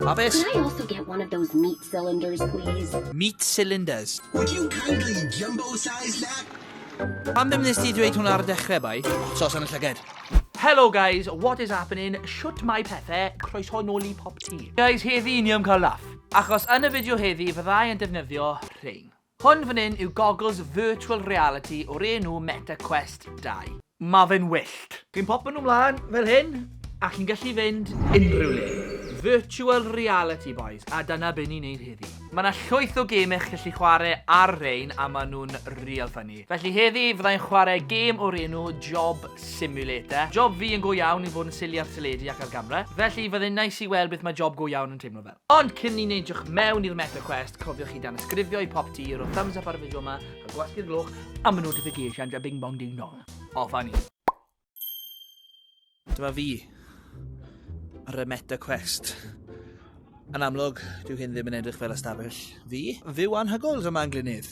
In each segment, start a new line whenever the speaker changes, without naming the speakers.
Pabell. Could I also get one of those meat cylinders, please? Meat cylinders. Would you kindly jumbo size that? Pam ddim nes ti dweud hwnna ar y dechrau, bai? Sos yn y llyged. Hello guys, what is happening? Shwt mae pethau? Croeso nôl i Pop Tea. Guys, heddi ni am cael laff. Achos yn y fideo heddi, fyddai yn defnyddio rhein. Hwn fan hyn yw gogls virtual reality o'r enw Meta Quest 2. Mae fe'n wyllt! Chi'n popio nhw mlaen fel hyn a chi'n gallu fynd unrhyw le. Virtual reality bois, a dyna be ni'n neud heddi. Mae 'na llwyth o gemau chi'n gallu chwarae ar rein a maen nhw'n real funny. Felly heddi fydda i'n chwarae gêm o'r enw Job Simulator. Job fi yn go iawn i fod yn silly ar teledu ac ar gamra, felly fydde'n neis i weld beth mae job go iawn yn teimlo fel. Ond cyn ni neidiwch mewn i'r Meta Quest, cofiwch i danysgrifio i pop ti, rho thumbs up ar y fideo yma, a gwasgu'r gloch am y notifications a bing bong ding dong. Off a ni. Dyma fi ar y Meta Quest. Yn amlwg, dyw hyn ddim yn edrych fel ystafell fi. Fyw anhygoel yma yn Glynnydd.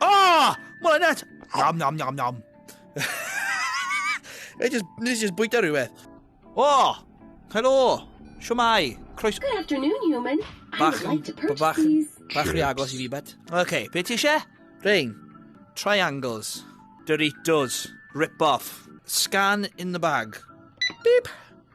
Ah! Mwy net! Nom, nom, nom, nom. Nes i just bwyta rhywbeth. O! Oh, helo! Siwmai! Croes... Good afternoon, human. I would like to purchase bach, these. Bach rhy agos i fi, bet. OK, be ti eisiau? Rhain. Triangles. Doritos. Rip-off. Scan in the bag. Beep.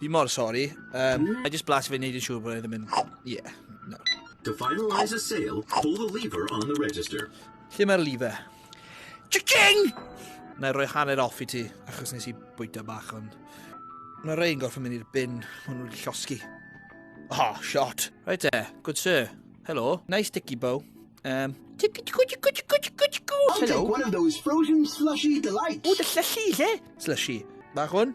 Fi mor sori. Um, I just blas fe wneud yn siŵr bod e ddim yn... Yeah, no. To finalise a sale, pull the lever on the register. Lle mae'r lever? Chicken! Na i roi hanner off i ti, achos nes i bwyta bach, ond... Mae rhain gorfod mynd i'r bin, maen nhw'n llosgi. Oh, shot. Right there, good sir. Hello. Nice sticky bow. Um, I'll take one of those frozen slushy delights. O, dy llysi, lle? Slushy. Bach hwn?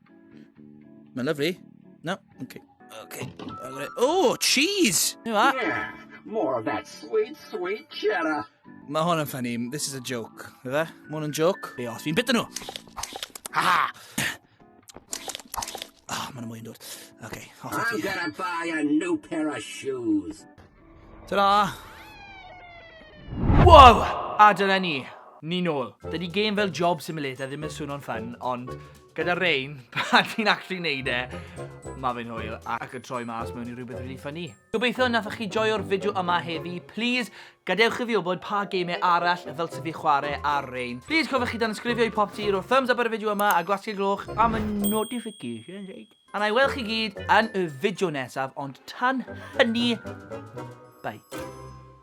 Mae'n lyflu. No, okay. Okay. Oh, cheese! You know yeah, more of that sweet, sweet cheddar. Mae hwn yn ffynnu. This is a joke. Fe? Mae hwn yn joke. Be os fi'n bita nhw? Ha! Ah, oh, mae'n mwy yn dod. Okay, off I'm gonna buy a new pair of shoes. Ta-ra! Wow! A dyna ni. Ni nôl. Dydy game fel Job Simulator ddim yn swno'n ffyn, ond gyda Rain, pan ti'n actually neud e, mae fe'n hwyl ac yn troi mas mewn i rhywbeth really ffynnu. Gobeithio nathoch chi joio'r fideo yma heddi. Please, gadewch i fi wybod pa game arall fel sy'n fi chwarae ar Rain. Please, cofiwch chi dan ysgrifio i popty, roi thumbs up ar y fideo yma a gwasgu gloch am y notifications. A na i weld chi gyd yn y fideo nesaf, ond tan hynny, bye.